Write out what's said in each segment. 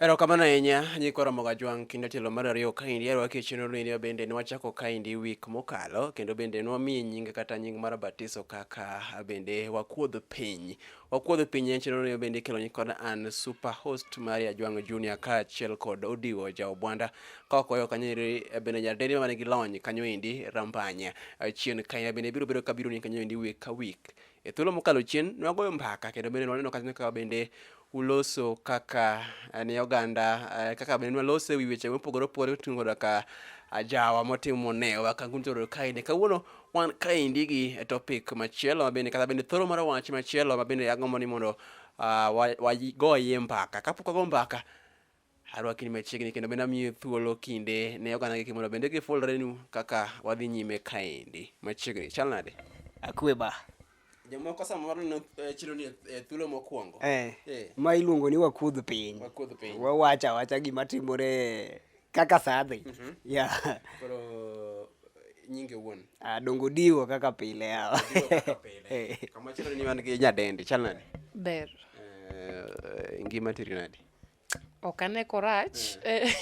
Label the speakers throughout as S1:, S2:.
S1: Erokamano ahinya nyikwa Ramogi Ajwang' kendo tielo mar ariyo kaendi arwaki e chenro ni bende ne wachako kaendi week mokalo kendo bende ne wamiyi nyinge kata nying mar batiso kaka bende wakuodh piny. Wakuodh piny en chenro ni bende ikelo ni kod an super host mari Ajwang' Junior kaachiel kod Odiwo Jaobwanda ka wakoyo kanyo eri eh, bende nyadendi ma nigi lony kanyo endi Rambanya. Eh, Chien kae bende biro bedo ka biro ni kanyo endi week ka week E thuolo mokalo chien, nwagoyo mbaka kendo bende nwaneno kata kaka bende uloso kaka eh, ne oganda eh, kaka bende nwalose e wi weche mopogore opogore oting'o koda ka ajawa motimo ne wakangun toro kaende kawuono wan kaendi gi topic machielo ma bende kata bende thoro mar wach machielo ma bende agombo ni mondo ah, wa- wagoye mbaka kapok wago mbaka Arwaki ni machiegni kendo bende amiyo thuolo kinde ne oganda gi mondo bende gifulrenu kaka wadhi nyime kaendi machiegni. Chal nade? Akwe ba. Jomoko samoro ne eh, chilo ni eh, thuolo mokwongo. Eh. Eh. Ma iluongo ni wakudh piny. Wakudh piny. Wawacha wacha gima timore kaka sadhi. Yeah. Koro nyinge wuon. Ah, dongo diwo kaka pile hawa. Eh. Kama chalo ni wan gi nyadendi. Chal nade? Ber. Eh, ngima tiri nade? Ok ane korach. Eh.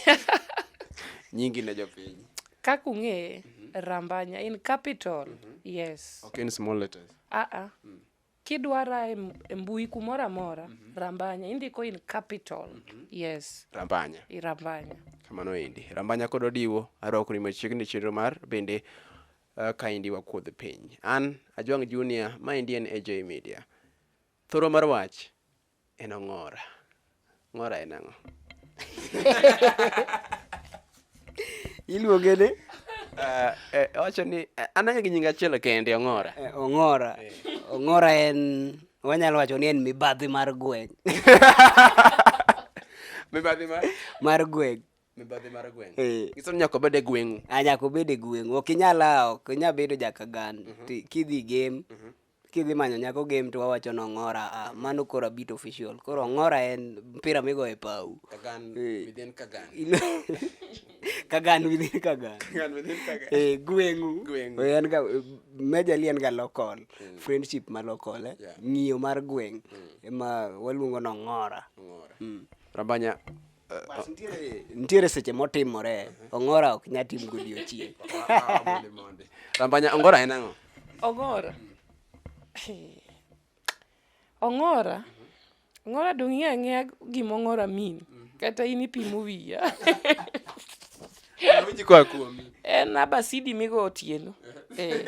S1: Nyingi ne jopiny. Kaka ung'eye, Rambanya in capital. Yes. Ok in small letters. Ah ah. Kidwara e m- e mbui kumoro amora, Rambanya indiko in capital. Yes. Rambanya. I Rambanya. Kamano endi. Rambanya kod Odiwo arwakoni machiegni e chenro mar bende uh, kaendi wakuodh piny. An Ajwang' Junior, maendi en AJ Media. Thoro mar wach En ong'ora. Ng'ora en ang'o? Iluonge ni? Eh, eh, owacho ni eh, an ang'e gi nying achiel kende ong'ora. Eh, ong'ora. Ong'ora en wanyalo wacho ni en mibadhi mar gweng'. mibadhi mar mar gweng'. Mibadhi mar gweng'. Eh. Nyiso ni nyaka obed e gweng'u. Ah, nyaka obed e gweng'u. Ok inyal ah, ok inyal bedo jakagan. Mm -hmm. Kidhi game mm -hmm. kidhi manyo nyako game to wawacho ni ong'ora ah, mano koro abit official koro ong'ora en mpira migoyo e pau Kagan Eh. within Kagan. kagan within kagan Kagan within Kagan. Eh, gweng'u Gweng'u. Eh, en ga major li en ga local friendship ma local eh? Yeah. ng'iyo mar gweng' ema waluongo ni ong'ora Ong'ora. Rabanya, nitiere seche motimore ongora ok nya tim godiochieng rambanya ongora en ang'o ongora ongora ongora dong' ing'e ang'eya gima ongora min kata in ipimo wiya en abasidi migo otieno eh.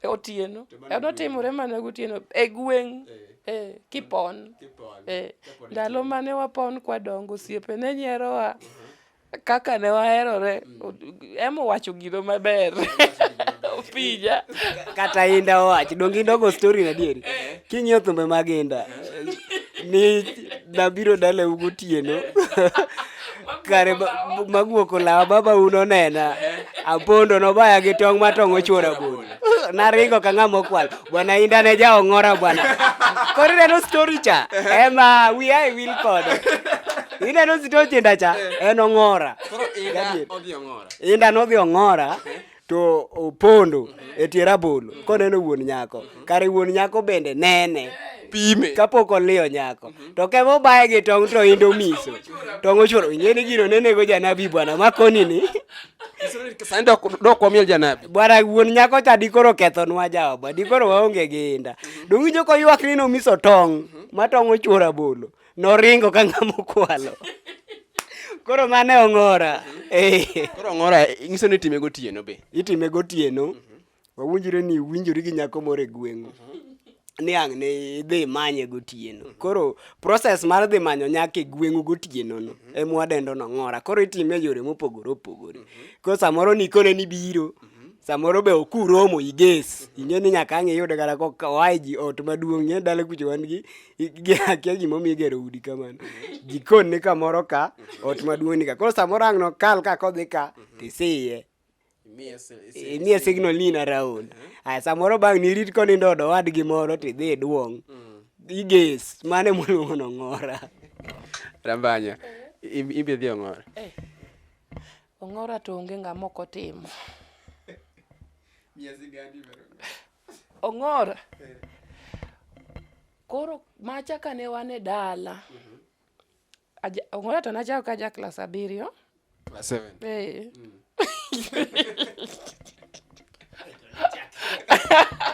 S1: e otieno eno timore mana gotieno e gweng' e kipon e ndalo mane wapon kwadongo osiepe ne nyerowa uh-huh. kaka ne waherore mm. ema owacho gino maber opija kata inda owach donge inda ogo story na dieri eh. king'iyo thumbe mag inda ni nabiro dalau gotieno kare magwoko lawa baba uno nena apondo nobaya gi tong' ma tong' ochwora bol naringo ka ng'ama okwal bwana inda ne ja ong'ora bwana koro ineno story cha ema wi ae wil kode ineno story cha en ong'ora inda nodhi ong'ora to opondo e tie rabolo koneno wuon nyako kare wuon nyako bende nene pime kapok oliyo nyako to kema obaye gi tong' to indo miso tong' ochuoro ing'e ni gino nenego janabi bwana makoni ni sani dok wamiel janabi bwana wuon nyako cha dikoro kethonwa jaoba dikoro waonge gi inda dong' winjo koywak ni nomiso tong' ma tong' ochuoro abolo Noringo ka ng'ama okwalo. Koro mane ong'ora. Eh. Koro ong'ora nyiso ni time gotieno be. Itime gotieno. Wawinjore ni winjori gi nyako moro e gweng'u. Ni ang' ni idhi manye gotieno. Koro process mar dhi manyo nyako e gweng'u gotieno no ema wadendo ni ong'ora. Koro itime e yore mopogore opogore. Koro samoro nikone ni biro. Samoro be ok uromo iges. Ing'e ni nyaka ang' iyude kata ka oa e ji ot maduong'. Ing'e ni dala kucho wan gi akia gimomiyo igero udi kamano jikon ni kamoro ka ot maduong' ni ka koro samoro ang' nokal ka kodhi ka tisiye imiye signal ni in around aya samoro bang' nirit konindo odo wadgi moro tidhi iduong' iges mane moluongo nong'ora rambanya im- imbe dhi ong'ora ong'ora to onge ng'ama ok otimo Ong'ora. Koro macha kane wan e dala. Aja, Ong'ora to nachako ka ja klas abiriyo. Class seven. Eh.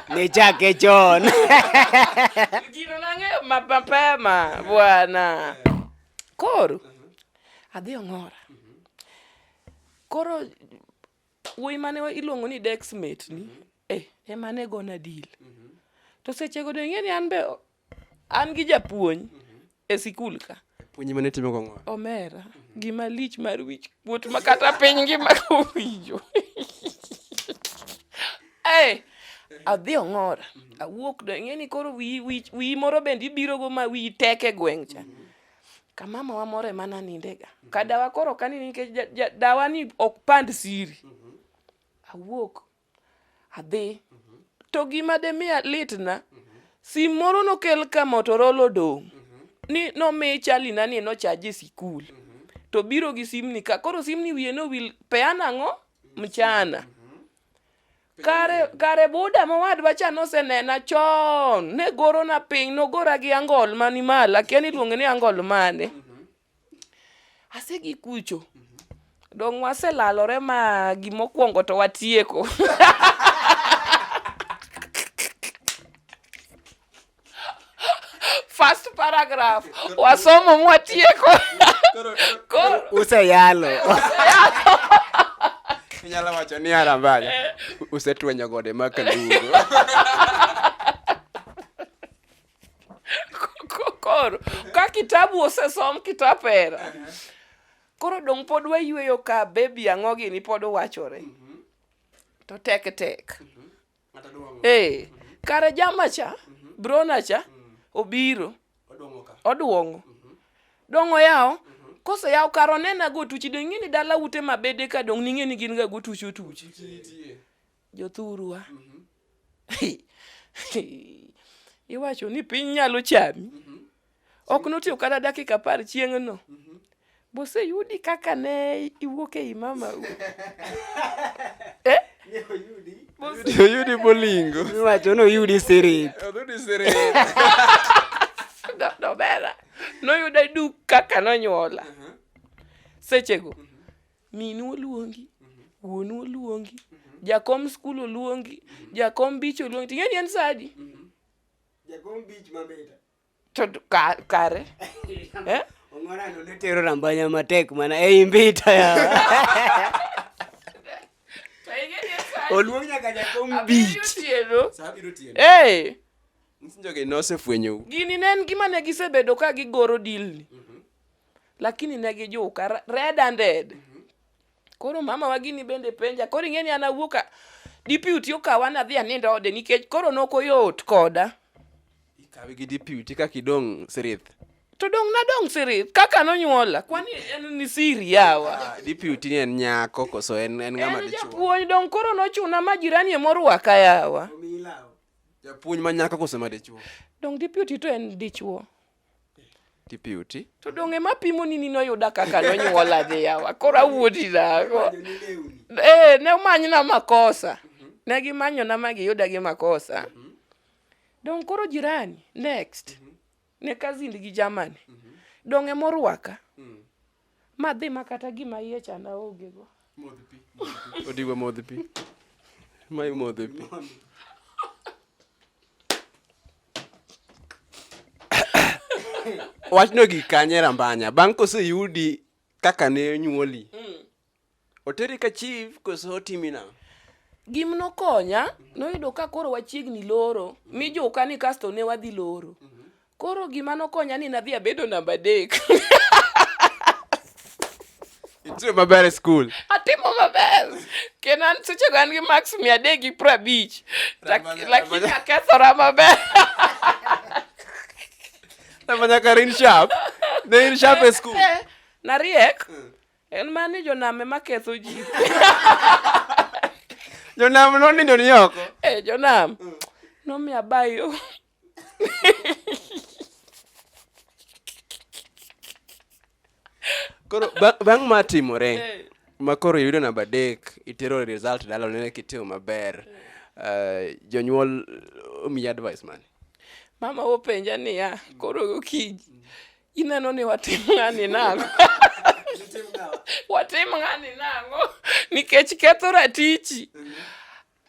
S1: Nichake chon. Gino nang'eyo ma- mapema bwana. Koro adhi Ong'ora. Koro wuoyi mane iluongo ni dex mate ni mhm. eh, ema ne gona dil mhm. to sechego do ing'e ni an be an gi japuonj mhm. e sikul ka puonj mane timo gong'o omera gima lich mar wich kuot ma kata piny ngima owinjo hey, eh, adhi ong'ora awuok do ing'e ni koro wiyi moro bende ibirogo ma wiyi tek e gweng' cha ka mama wa moro ema nanindega mm -hmm. ka dawa koro ok anini nikech ja, ja, dawa ni ok pand siri mm -hmm. awuok adhi mm -hmm. to gima demiya litna mm -hmm. sim moro nokel ka motorol odong' mm -hmm. ni nomi chalina ni nochaje sikul mm -hmm. to biro gi simni ka koro simni wiye nowil peana ang'o mchana mm -hmm. Kare, kare buda mowadwa cha nosenena chon ne gorona piny nogora gi angol mani malo akia ni iluonge ni angol mane mhm. asegi kucho mhm. dong' waselalore ma gimokwongo to watieko first paragraph wasomo mwatieko Koro- useyalo inyalo wacho ni arambaya usetwenyo gode ma kalugo ko- koro ka kitabu osesom kitapera koro dong' pod wayueyo ka bebi ang'o gini pod wachore to tek tek Eh, kare jama cha, mhm. brona cha mm. obiro. Odwongo. Mhm. Dongo yawo. Mhm. Kose yawo kar onena go tuchi dong ing'e ni dala ute mabede ka dong ning'e ni gin ga go tuchi otuchi. Jothurwa. Iwacho ni piny nyalo chami. Ok notiyo kata dakika apar chieng'no. Mhm. Bose yudi kaka ne iwuok ei mama u. eh? Oyudi bolingo. Iwacho noyudi sirit. Oyudi sirit. Dobera. Noyuda duk kaka nonyuola. Mhm. Sechego. Mhm. Minu oluongi. Wuonu oluongi. Jakom skul oluongi. Jakom bich oluongi. Ting'eni en sadi. Jakom bich mabeta. to ka- kare eh? Ong'orano ne tero rambanya matek mana ei mbita yawa. To ing'e ni sani Oluong nyaka jakom abiriyo beat. otieno Saa biro tieno. Eh, Msinjoge nosefwenyo. gini ne en gima ne gisebedo ka gigoro dilni lakini ne gijuka re- red handed Koro mama wa gini bende penja. Koro ing'e ni an awuok a- deputy okawa nadhi anindo ode nikech koro ne ok oyot koda. Ikawe gi deputy kaka idong' sirith. To dong' nadong' siri kaka nonyuola. Kwani en ni siri yawa. Ah, Deputy ni en nyako koso en en ng'ama En dichwo. japuonj dong' koro nochuna ma jirani ema orwaka yawa. Japuonj ma nyako koso ma dichwo. Dong' deputy to en dichwo. tipiuti to donge ema pimo ni nino yuda kaka nonyuola dhi yawa koro awuoti dhako ee eh, ne omanyna makosa mhm. ne gimanyona ma giyuda gi makosa mhm. dong koro jirani next mhm. ne kazindi gi jamani donge morwaka mm. Ma dhi ma kata gima iye chana onge go. Modh pi. Odiwa modh pi. Ma imodhe pi. Wachno gik kanye rambanya. Bang' koseyudi kaka ne nyuoli. Mm. Oteri ka chief koso otimi na? Gim nokonya, noyudo ka koro wachiegni loro, mi joka ni kasto ne wadhi loro. Koro gima nokonya ni nadhi abedo namba adek. Itimo maber e skul. Atimo maber. Kendo an seche go an gi max mia adek gi piero abich. Lak- Ramanya- Lakini Ramanya- akethora maber. Nafanya kar in sharp. Ne in sharp e skul. Eh, Nariek. En ma ni jonam ema ketho ji. Jonam nonindo ni oko. Eh, jonam. Mm. Nomiya bayo. Koro bang' ma timore eh. ma koro yudo namba adek itero result dala onene kitimo maber eh. eh, jonyuol omiyi advice mane? Mama openja niya, koro okinyi Ineno ni watim ng'ani nang'o? watim ng'ani nang'o? Nikech ketho ratichi. Mhm.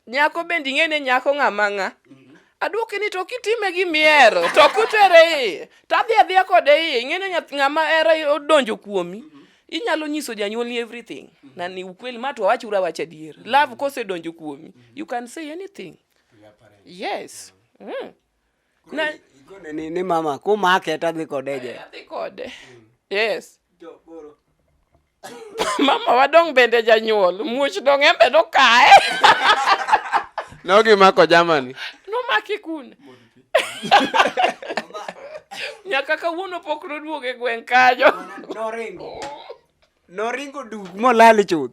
S1: Nyako bende ing'e ni nyako ng'ama ng'a. Mhm. Adwoke ni to kitime gi miero to kutere iye to adhi adhiya kode iye ing'e ni ng'ama era odonjo kuomi. Mhm. Inyalo nyiso janyuolni everything. Na ni ukweli ma to awachura wach adier. Love kosedonjo kuomi. You can say anything. Yes. Mm. Na kone ni, ni mama kumake to adhi kode je. Adhi kode. Mm. Yes. mama wadong bende janyuol muoch dong embe nokaye nogimako jamani nomaki kune nyaka kawuono pok noduog e gweng' kanyo noringo noringo duk molal chuth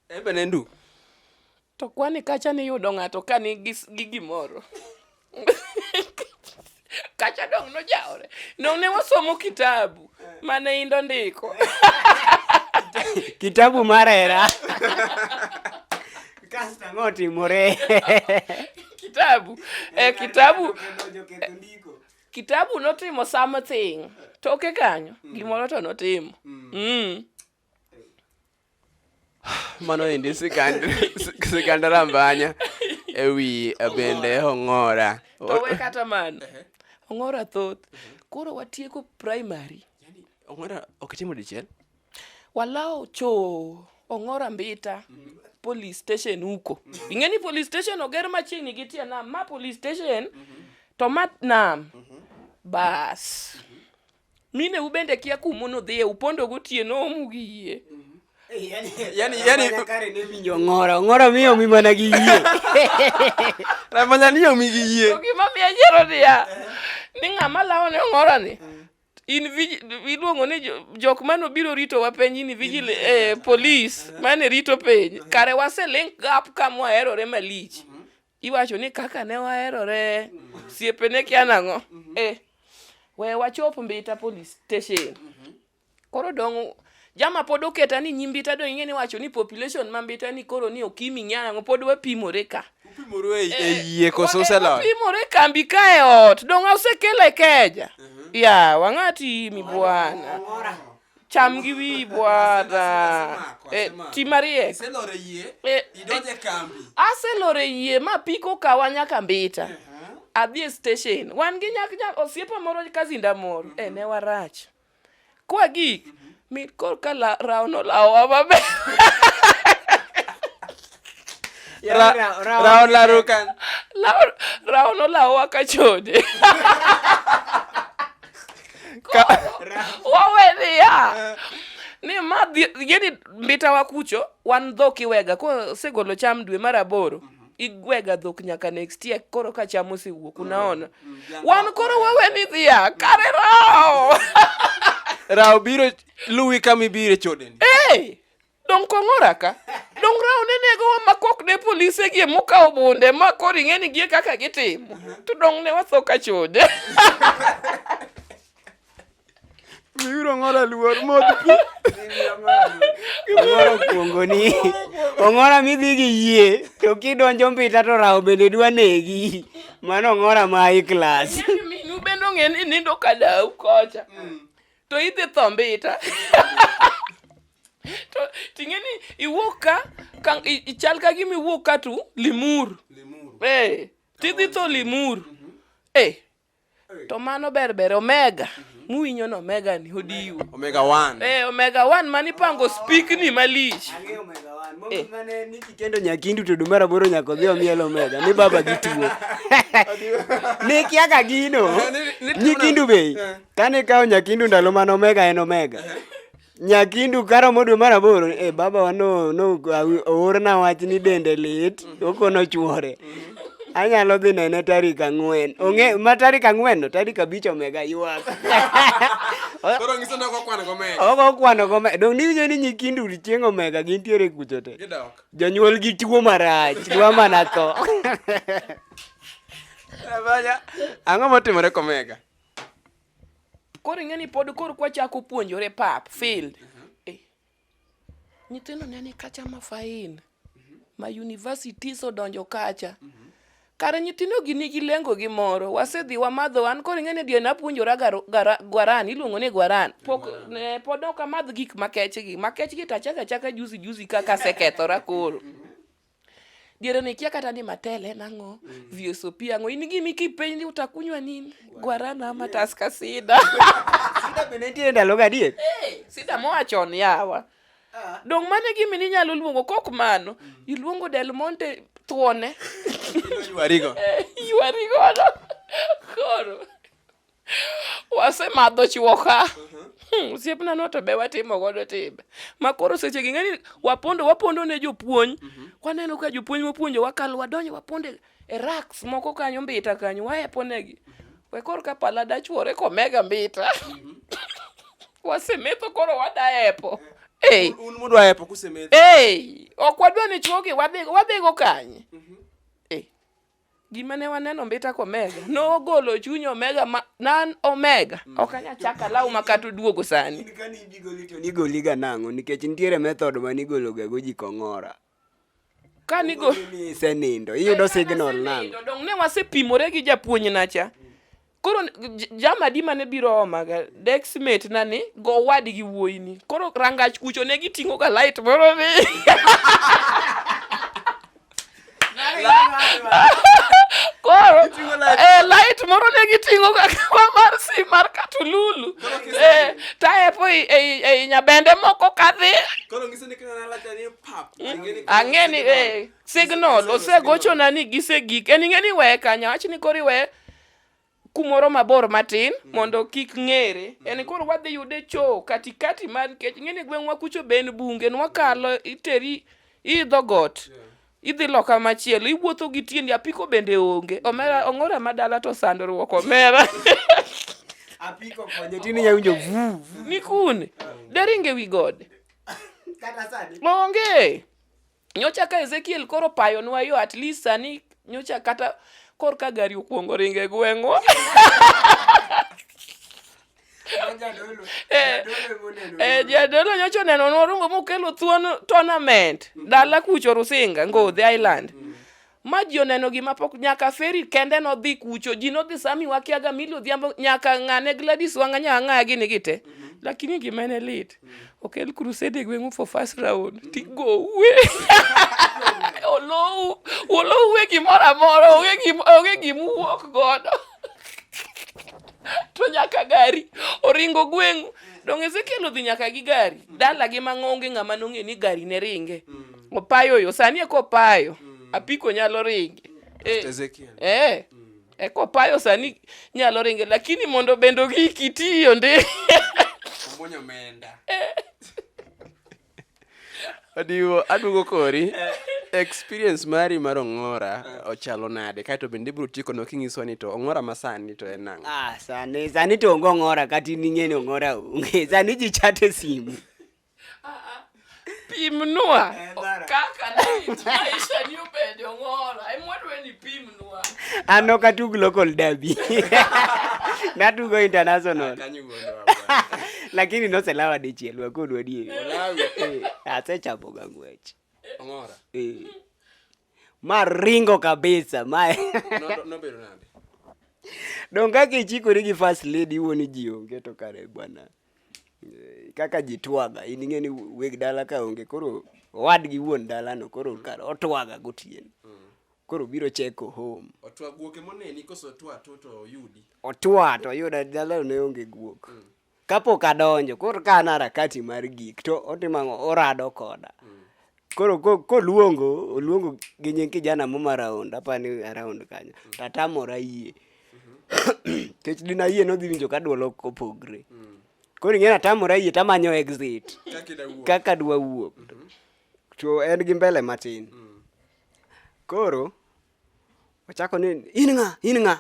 S1: embe ne nduk To kwani kacha niyudo ng'ato ka nigi gi gimoro. kacha dong' nojaore. Nong' ne wasomo kitabu mane indo ndiko. kitabu mar hera. Kasto ang'o otimore? kitabu. Eh, kitabu. Kitabu notimo something. Toke kanyo. Gimoro to notimo. Mm. mano endi sigand rambanya ewi eh, bende ong'ora to we kata man ong'ora thoth koro watieko primary ong'ora ok timo dichiel walawo cho ong'ora mbita police station huko ing'e ni police station oger machiegni gi tie nam ma police station to ma nam bas mine u bende kia kumo nodhiye upondo gotieno omu gi yie yani yani yani kare ne winjo ngora ngora miyo mi mana gi yie na mana ni omi gi yie to gima miya yiero niya ni ng'ama lawo ne ngora ni in vigi- iluongo ni jo- jok mane obiro rito wa piny ni vigil eh, police mane rito piny kare waselink gap ka mwaherore malich Iwacho ni kaka ne waherore siepe ne kia nang'o? Mm-hmm. Eh, we wachop Mbita police station. Mm-hmm. Koro dong' jama pod oketa ni nyi Mbita dong' ing'e ni wacho ni population ma Mbita ni koro ni okimi ng'ia nang'o pod wapimore ka. Upimore e, e eh, yie koso eh, uselot? Wapimore kambi ka e ot dong' osekele keja. Mm-hmm. Ya, wang'ati mi bwana. cham gi wiyi bwana eh, ti mariek eh, aselore yie ma piko kawa nyaka mbita eh, adhi e station wan gi nyak nyak osiepa moro kazinda moro e ne warach kwa gik mhm. mit korka rawo nolawowa maber Ra- Ra- Ra- Raon Larukan. Laon, Raon olawowa ka chode. Ka- Wawe niya. Ni ma dhi- gini mbita wa kucho, wan dhok iwega. Ko segolo cham dwe mar aboro. Igwega dhok nyaka next year koro ka cham osewuok unaona. Wan koro wawe ni dhiya kare rao. Rao biro luwi kama ibire chodeni. Hey! Dong kong'ora ka. Dong raone nego wa makok ne polise gie mukawo bunde ma koro ing'e ni gie kaka gitimo. To dong ne watho ka chode. Miuru ong'ora luor modh pi. Ong'ora okuongoni. Ong'ora midhi gi yie to kidonjo mbita to rawo bende dwa negi. Mano ong'ora ma high class. Minu bende ong'e ni nindo ka dau kocha. to idhi tho mbita to ting'e ni iwuok ka ka i- ichal ka gima iwuok ka tu limur eh tidhi tho limur eh to mano ber ber omega muwinyo no omega ni odiwo omega one eh omega one mani pango speak ni malich Eh. kitendo nyakindu to dumara boro nyako dhi omiel omega ni baba gi tuo ni kiaka gino nyikindu bei Kane kawo Nyakindu ndalo mane Omega en Omega. Nyakindu karomo dwe mar aboro, eh baba wa no no awi- oorna wach ni dende lit, okono chuore. Anyalo dhi nene tarik ang'wen. Ong'e ma tarik ang'wen no, tarik abich Omega ywak. Koro ngiso ni ok okwan go mega. Ogo kwano gome. Dong niwinjo ni Nyakindu chieng' Omega gintiere kucho te. Gidok. Jonyuol gi tuo marach, dwa mana tho. Abaya. Ang'o motimore komega? Koro ing'e ni pod koro kwa chako puonjore pap field. Eh. Nyithindo ne ni kacha ma fain. Ma universities odonjo kacha. Kare nyithindo gi nigi lengo gi moro. Wasedhi wamadho an koro ing'e ni dier napuonjora garo- gara- gwaran iluongo ni gwaran. Pok ne pod ok amadh gik makech gi. Makech gi tachaka chaka juzi juzi kaka asekethora koro. diere ni kia kata ni matele nang'o mm. vsop ang'o in gimi kipenji utakunywa nini guarana ama yeah. taska sida sida bende nitiere ndalo gadier hey, sida moa chon yawa ah. dong' mane gimi ninyalo luongo kok mano mm. iluongo del monte thuone ywarigo eh, ywarigono koro wasemadho chuoka hmm, osiepna no to be watimo godo timbe ma koro seche gi ng'ani wapondo wapondo ne jopuonj mhm. waneno ka jopuonj mopuonjo wakalo wadonjo wapondo e raks moko kanyo mbita kanyo waepo negi mhm. we koro ka pala dachuore komega mbita mhm. wasemetho koro wadaepo eh. ok wadwa ni chuogi wadhigo kanye gima ne waneno mbita ko omega nogolo chuny omega ma nan omega mm. ok anya chaka law ma kata oduogo sani kani ibigoli to nigoli ga nang'o nikech nitiere method ma nigolo ga go ji kong'ora kani go isenindo iyudo signal nang'o dong ne wasepimore gi japuonj nacha koro jama di mane biro omaga dexmate na ni go wadi gi wuoyini koro rangach kucho ne giting'o ga light moro ni koro eh, light moro ne giting'o ga kawa mar si mar katululu eh, taepo ei e, e, e nyabende moko kadhi ang'e ni eh, signal osegochona ni gisegik en ing'e ni weye kanyo wach ni koro iweye kumoro mabor matin mm. mondo kik ng'ere mm. en koro wadhi yude cho katikati mar nikech ng'eni gweng'wa kucho be en bunge nwakalo iteri idho got yeah. idhi loka machielo iwuotho gi tiendi apiko bende onge omera ong'ora madala to sandruok omera apiko konyo tini yawinjo vu nikun deringe wi gode onge Nyocha ka Ezekiel koro payonwa yo at least sani nyocha kata kor ka gari okuongo ringe gweng'wa. Eh, eh, jadolo nyocha oneno norungo mokelo thuon tournament dala kucho Rusinga Ngodhi Island. ma ji oneno gima pok nyaka feri kende nodhi kucho ji nodhi sami wakiaga mili odhiambo nyaka ng'ane Gladys wang'anya ang'aya gini gite mm -hmm. lakini gima ne lit mm -hmm. okel crusade e gweng'u for first round mm -hmm. tigowe olowu olowu e gimoro amora onge gima uwuok godo to nyaka gari oringo gweng'u donge ezekiel odhi nyaka gi gari mm. dala gi mang'onge ng'ama nong'e ni gari ne ringe mm. opayo yo sani eko opayo mm. apiko nyalo ringe eh, eh. Mm. eko opayo sani nyalo ringe lakini mondo bendo gi kitiyo ndi adiwo eh. aduogo kori eh. experience mari mar ong'ora eh. ochalo nade kaeto bende ibiro tieko no kinyiso ni to ong'ora ma sani to en ang'o ah, sani sani to onge ong'ora kata in ing'e ni ong'ora onge sani ji chate simu pimnwa kaka maisha ni obedo ng'ora emwadwa ni pimnwa an ok atug local derby natugo international ah, lakini noselawa dichiel wakodu adieri eh, asechapoga ng'wech eh. ma ringo kabisa ma donge kaka ichikori gi first lady iwuoni ji onge to kare bwana kaka ji twaga in ing'e ni weg dala ka onge koro owadgi wuon dalano koro kar otwaga gotieno koro biro cheko home otwa guoke moneni koso otwa to to oyudi otwa to oyuda dalano ne onge guok mm. kapok adonjo koro ka an arakati mar gik to otimo ang'o orado koda mm. koro koluongo oluongo gi nying kijana mo maraund apani araund kanyo mm. tatamora yie mm-hmm. kech dina yie nodhi winjo ka dwol ok opogre mm. koro ing'e natamora yie tamanyo exit kaka dwa wuok mm-hmm. to en gi mbele matin mm. koro ochako ni in ng'a in ng'a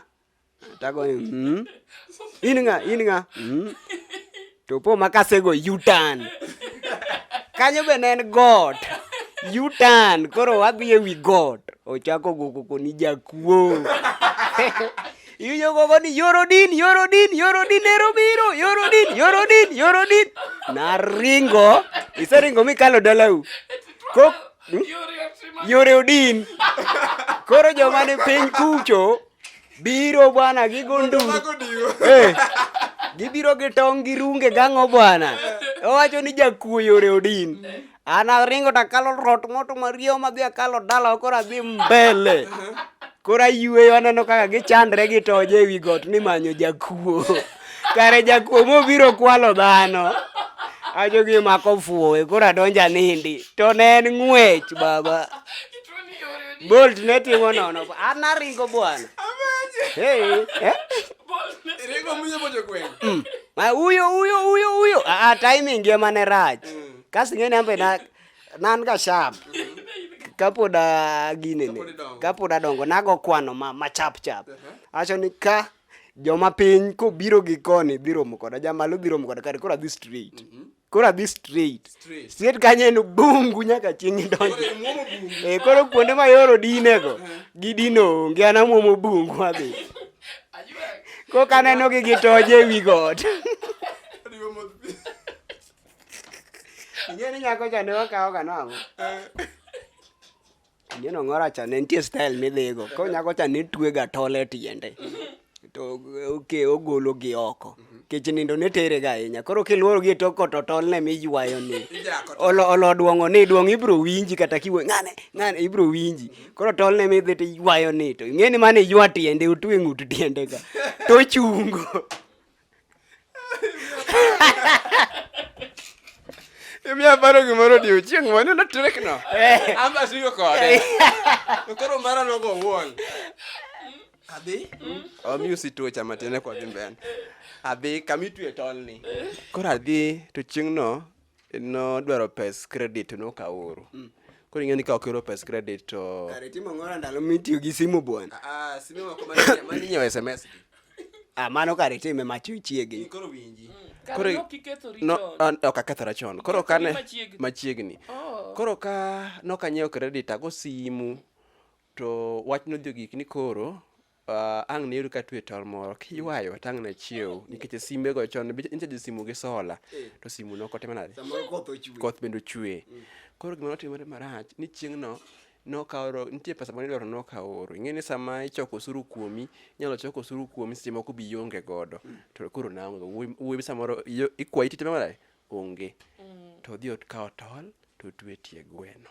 S1: Tago ni, mm. In ng'a, in ng'a. Mm. To po ma kasego U-turn. Kanyo be ne en got. U-turn. Koro wadhi ewi got. Ochako go koko ni jakuo. Iwinjo koko ni yorodin, yorodin, yorodin ero biro, yorodin, yorodin, yorodin. Naringo. Iseringo mikalo dalau. Kok, hmm? Yore odin. Koro joma ni piny kucho biro bwana gi gonduru eh, gibiro gi tong' gi runge gang'o bwana owacho ni jakuoyo reodin an aringo to akalo rot moto mario madhi akalo dala koro adhi mbele koro ayueyo aneno kaka gichandre gitoje ewi got ni manyo jakuo kare jakuo mobiro kwalo dhano ajo gi mako fuowe koro adonja nindi to ne en ng'wech baba bolt ne timo nono an aringo bwana hey, eh? mm. uyo uyo uyo uyo a ah, ah, timing ye mane rach mm. kasi ng'eni ambe na nan ga sharp kapod aginene kapod adongo nago kwano ma, ma chap chap uh-huh. acho ni ka joma piny kobiro gi koni dhi romo koda jamalo dhi romo koda kare koro adhi straight mm -hmm. koro adhi straight straight kanyo en bungu nyaka chieng' idonjo e koro kuonde ma yoro dinego gi dino onge an amwomo bungu adhi koka aneno gi gi toje e wi got ing'e ni nyako cha ne wakawoga nang'o eh. Neno ng'ora cha ne nitie style midhigo. Ko nyako cha ne twega tole tiende. To oke ogolo gi oko. Kech nindo ne tere ga ahinya. Koro kiluoro gi to koto tol ne mi ywayo ni. Olo olo duongo ni duong ibro winji kata kiwe ngane ngane ibro winji. Koro tol ne mi dhi to ywayo ni to. Ng'eni mane ywa tiende otwe ng'ut tiende ga. To chungo. Imiyo aparo gimoro odiechieng' mane notrikno. Eh. Amba asigo kode. To koro mara nogo wuon. Adhi. Omi usituocha matin kwa dhi mbele. Adhi kama itwe tolni. Koro adhi to chieng'no nodwaro pes credit to nokaoro mm. koro ing'e ni ka okero pes credit to kare timo ng'ora ndalo mitiyo gi simu bwana ah, ah simu moko mani nyiewo sms ah mano kare time macho chiegni koro winji mm. koro no ah, ok akethora chon koro kane machiegni oh. koro ka nokanyiewo credit ago simu to wach nodhi ogik ni koro Uh, ang' ne yudo ka twe tol moro kiywayo tang' na chiew nikech simbe go chon nitie ji simu gi sola eh. to simu no kote manade koth bende ochwe mm. koro gima notimore marach ni chieng' no nokaoro nitie pesa mane idwaro nokaoro ing'e ni sama ichoko osuru kuomi inyalo choko osuru kuomi seche moko bi ionge godo mm. to koro naonge wuoyi samoro ikwayi tite mara onge mm. to odhi okawo tol to otwe tie gweno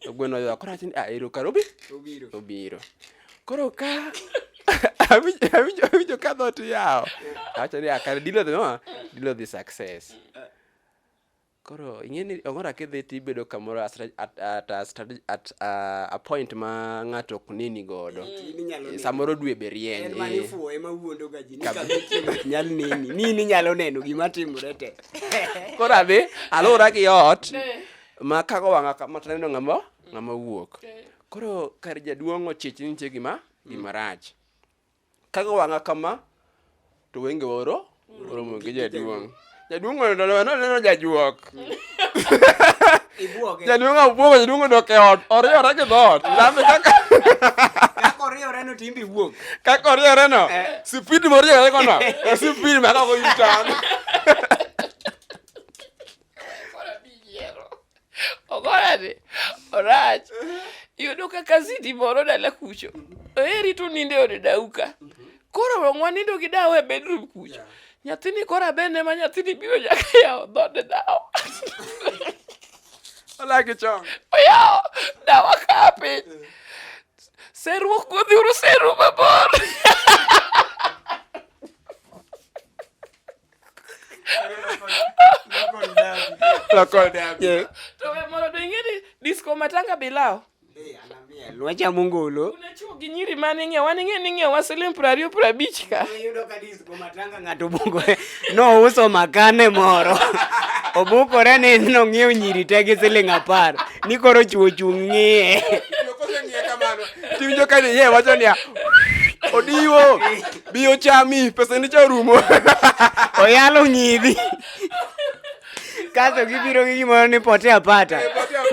S1: To gweno oywak koro awacho ni ah ero kare obi Obiro. obiro. Koro ka awinjo awinjo awinjo ka dhot yawo. Awacho ni ah kare dilo dhi ma dilo dhi success. Koro ing'e ni ong'ora kidhi tibedo kamoro as- at at a strate- at a- a point ma ng'ato ok neni godo. In inyalo neno. Samoro dwe be rieny. En mane eh. ifuwo ema wuondo ga ji ni Kab- kama chieng' ok nyal neni. Ni in inyalo neno gima timore te. Koro adhi alura gi ot. ma kago wanga kama to neno ngama ngama wuok koro kar jaduong ochich ni nitie gima gima rach kago wanga kama to wenge oro oromo gi jaduong jaduong ono no no no jajuok Ibuoge. jaduong abuogo jaduong odok e ot oriyore gi dhoot lame kaka Kaka oriewore no timbe iwuok. kaka oriyore no Eh. sipid moriyore gono e sipid ma kago yutan ogorani orach yudo ka kazidi moro dala kucho eri to ninde ode dauka koro wong wanindo gi dawa e bedroom kucho nyathini koro abene ma nyathini biro nyaka yawo dhode dawa olagi chon oyawo dawa ka piny serruok godhiuru seru mabor disco matanga bilao nwacha mungolo unachuo gi nyiri mane ng'e wan ing'e ni ng'e wa siling piero ariyo piero abich ka iyudo ka disco matanga ng'ato bukore nouso makane moro obukore ni nong'iew nyiri te gi siling apar ni koro chuo chung' ng'iye tiwinjo ka ni ye wacho niya odiwo Bi ochami, pesa ni cha rumo. Oyalo ng'idhi. Kaso gibiro gi gimoro ni pote apata.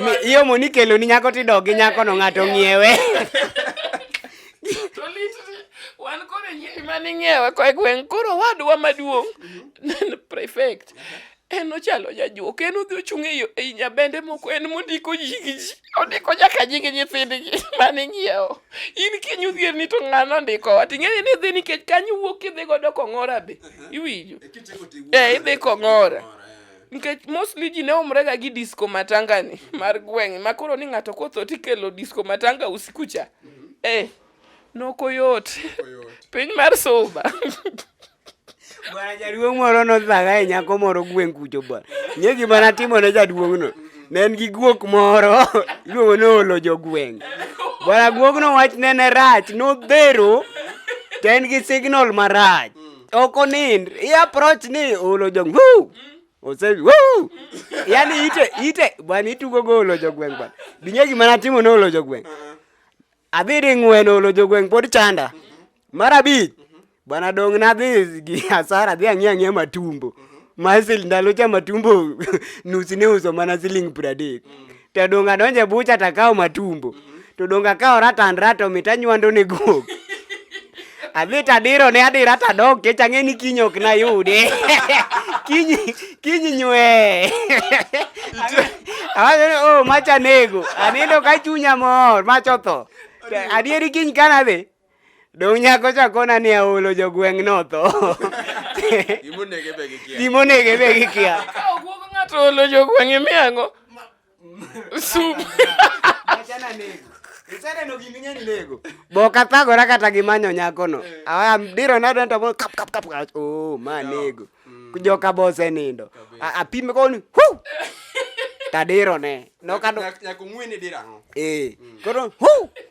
S1: Mi- Iyo mo nikelo ni nyako tidok gi nyako no ng'ato ng'iewe. To lit ni, wan koro nyiri mane ing'iewe koa e gweng' koro wadwa maduong' prefect En ochalo jajuok, en odhi ochung' e yo- ei nyabende moko, en mondiko nying ji. Ondiko nyaka nying nyithindgi mane ng'iewo. In kiny odhier ni to ng'ano ondikowa? To ing'eni ni idhi nikech kanyo wuok kidhi godo kong'ora be. Iwinjo? Eh, idhi kong'ora. Nikech mostly ji ne umrega gi disco matanga ni mar gweng' ma koro ni ng'ato kotho tikelo disco matanga usiku cha. Eh, nokoyot. Piny mar soba. Bwana jaduong' moro nodhaga e nyako moro gweng' kucho bwana. Ng'e gima natimo ne jaduong'no. Ne en gi guok moro iluongo ni olo jogweng'. Bwana guogno wachne ne rach nodhero to en gi signal marach. Ok onind. I approach ni olo jogweng'. Woo! Ose woo! Yaani ite ite bwana itugo go olo jogweng' bwana. Bing'e gima natimo ne olo jogweng'. Adhi di ng'wen olo jogweng' pod chanda. Mar abich, bwana dong' nadhi gi asara adhi ang'e ang'e matumbo. Ma siling ndalo cha matumbo nus ne uso mana siling pradek. To dong' adonje bucha takawo matumbo. To dong' akawo ratandra to mit anywando ne guok. Adhi tadiro ne adira tadok kech ang'e ni kiny ok nayude. Kiny kiny nywe. Awacho ni oh macha nego. Anindo ka chunya mor macha otho. Adieri kiny kana dhi. Dong' nyako chakona ni aolo jogweng' notho. Gimonege be gikia. Gimonege be gikia. Ka ogwog ng'ato olo jogweng' imiyango. Sub. Achana nego. Isene no giminya ni nego. Boka thago ra kata gi manyo nyako no. Eh. Aya diro na dento mo kap kap kap. Oh, ma nego. Mm. Kujoka bose nindo. Apime koni. Hu. Tadiro ne. No kado. Nyako ngwini dirano. Eh. Mm. Koro hu.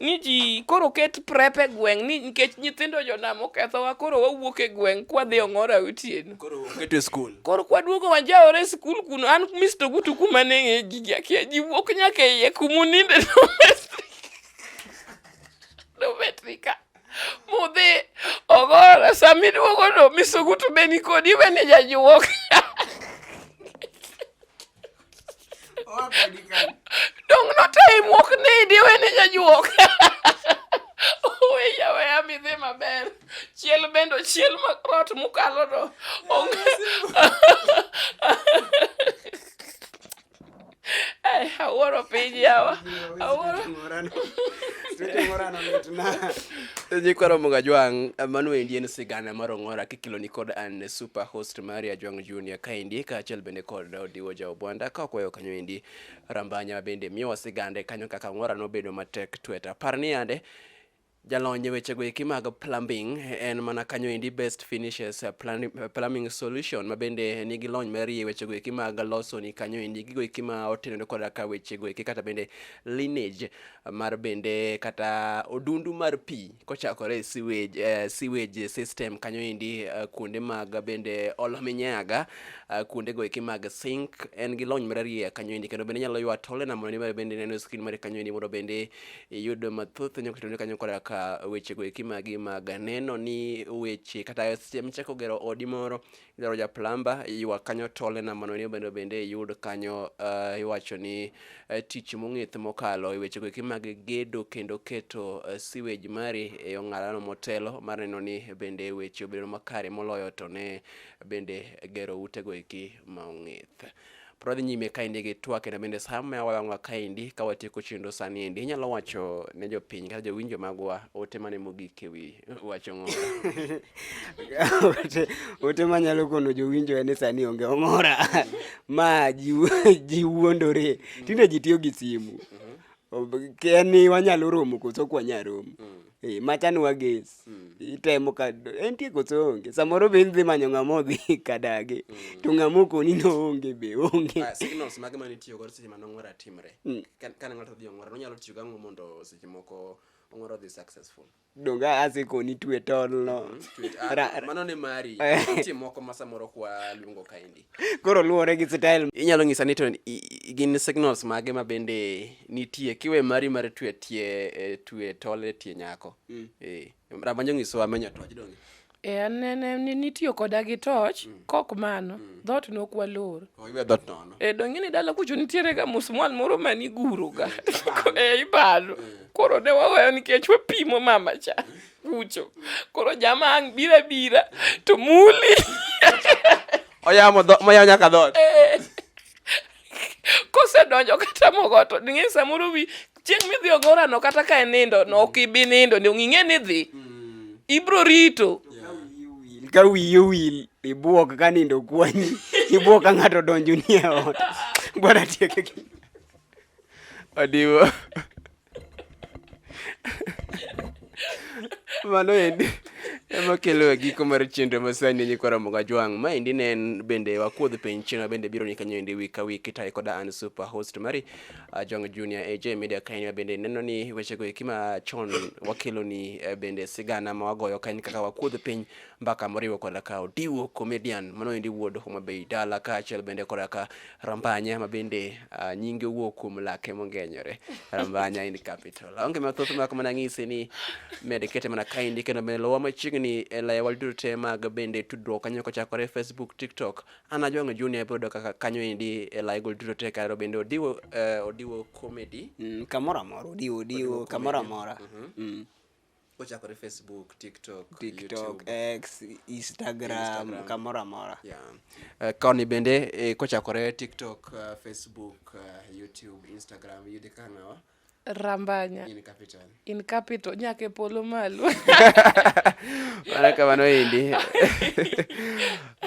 S1: ni ji koro ket prep e gweng' ni nikech nyithindo jonam okethowa koro wawuok e gweng' kwadhi ong'ora otieno koro keto e skul koro kwaduogo wanjaore e skul kuno an misto gutu kuma neng'e gigi akia ji wuok nyaka e iye kumuninde dometrika mudhi ogora samiduogo no misto gutu be nikodi wene jajuok Owacho ni kan. Dong notayi muok ni idi wene nyajuok. Oweya weya midhi maber. Chiel bendo chiel ma rot mukalo do. Onge. Ai, awuoro piny yawa. Awuoro. Nyikwaro Muga Jwang, mano endi en sigana mar Ong'ora kikelo ni kod an super host mari Ajwang Junior kaendi kaachiel bende kod Raila Odiwo ja Obwanda ka okwayo kanyo endi. Rambanya ma bende miyowa sigande kanyo kaka Ang'ora nobedo matek twet. Apar ni yande jalony e wechego eki mag plumbing en mana kanyo endi best finishes eh, plan- eh, plumbing solution ma bende nigi lony marie e wechego eki mag loso ni kanyo endi gigo eki ma otenore koda ka wechego eki kata bende lineage mar bende kata odundu mar pi kochakore e sewage, eh, sewage system kanyo endi eh, kuonde mag bende olo minyaga eh, kuonde go eki mag sink en gi lony mararieya kanyo endi kendo bende inyalo ywa tole na mondo ni bende neno screen mare kanyo endi mondo bende iyud mathoth nyaka tone kanyo koda ka weche go eki magi mag neno ni weche kata seche michako gero odi moro idwaro ja plumber iywak kanyo to olena mondo ni bende bende iyud kanyo uh, iwacho ni uh, tich mong'ith mokalo e weche goeki mag gedo kendo keto uh, sewage mari e ong'alano motelo mar neno ni bende weche obedo makare moloyo to ne bende gero ute goeki ma ong'ith Pod wadhi nyime kaendi gi twak kendo bende sa ma wawang'wa kaendi ka watieko chenro sani endi inyalo wacho ne jopiny kata jowinjo magwa ote mane mogik e wi wacho ng'ora ote manyalo kono jowinjo en ni sani onge ong'ora ma ji wuondore tinde ji tiyo gi simu mhm. en ni wanyalo romo koso ok wanyal romo mm. Eh, machani wages mm. itemo ka entie koso onge samoro be indhi manyo ng'ama odhi kadagi mm. to ng'ama okoni no onge be onge ah, signals mage mane itiyo godo seche mane ong'ora timre mm. kane ng'ato odhi ong'ora nonyalo tiyo gang'o mondo seche moko ong'ora odhi successful donga asekoni twe tolno mm-hmm. ah, mano ne mari nitie moko ma samoro kwa luongo kaendi koro luwore gi style inyalo nyisa ni to gin signals mage ma bende nitie kiwe mari mar twe tie e, twe tole tie nyako mm. eh rabanjo nyiso wa menyo toj donge eh anene ni nitiyo koda gi toch mm. kok mano mm. dhot no kwa lor oh, iwe dhot nono eh donge ni dala kucho nitiere ga musmwal moro mani guru ga eh ibalo eh. koro ne waweyo nikech wapimo mama cha mm. kucho koro jama ang' bira bira to muli oyamo moyawo nyaka dhoot eh. kosedonjo kata mogo to ng'e samoro wi chieng' midhi ogorano kata ka en nindo no ok ibi nindo ni ong'ing'e ni dhi mm. ibro rito ka wiyi owil ibuok ka nindo kwanyi ibuok ka ng'ato donjo ni e ot gwara tieke odiwo mano endi ema kelo e giko mar chenro masani e nyikwa ramoga jwang' ma endi ne en bende wakuodh piny china bende biro ni kanyo endi wik ka wik itaye koda an super host mari uh, jwang' junior aj media kain bende neno ni wechego eki ma chon wakeloni eh, bende sigana ma wagoyo kain kaka wakuodh piny mbaka moriwo koda ka Odiwo Comedian manoendi wuod Homa Bay Dala kaachiel bende koda ka Rambanya ma bende uh, nyinge wuok kuom lake mongenyore Rambanya in capital aonge mathoth mak mana ng'ise ni med kete mana kaendi kendo bende lowa machiegni e layewa duto te mag bende tudruok kanyo kochakore Facebook TikTok an ajwang'o junior ibiro yudo kaka kanyo endi e layego duto te karo bende Odiwo uh, Odiwo Comedy Mm, kamoro amora odiwo odiwo kamoro amora Mm. kochakore facebook tiktok tiktok x instagram, instagram. kamoro amora yeah. uh, koni bende eh, kochakore tiktok uh, facebook uh, youtube instagram yudi ka ng'awa rambanya in capital, in capital. nyaka e polo malo mana kamano endi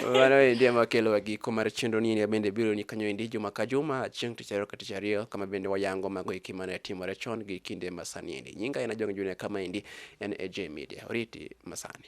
S1: mano endi ema kelowa giko mar chenro ni endi bende biro ni kanyo endi juma ka juma chieng' tich ariyo ka tich ariyo kama bende wayango mago eki mane timore chon gi kinde masani endi Nyinga en Ajong' Junior kama endi en AJ Media. Oriti masani.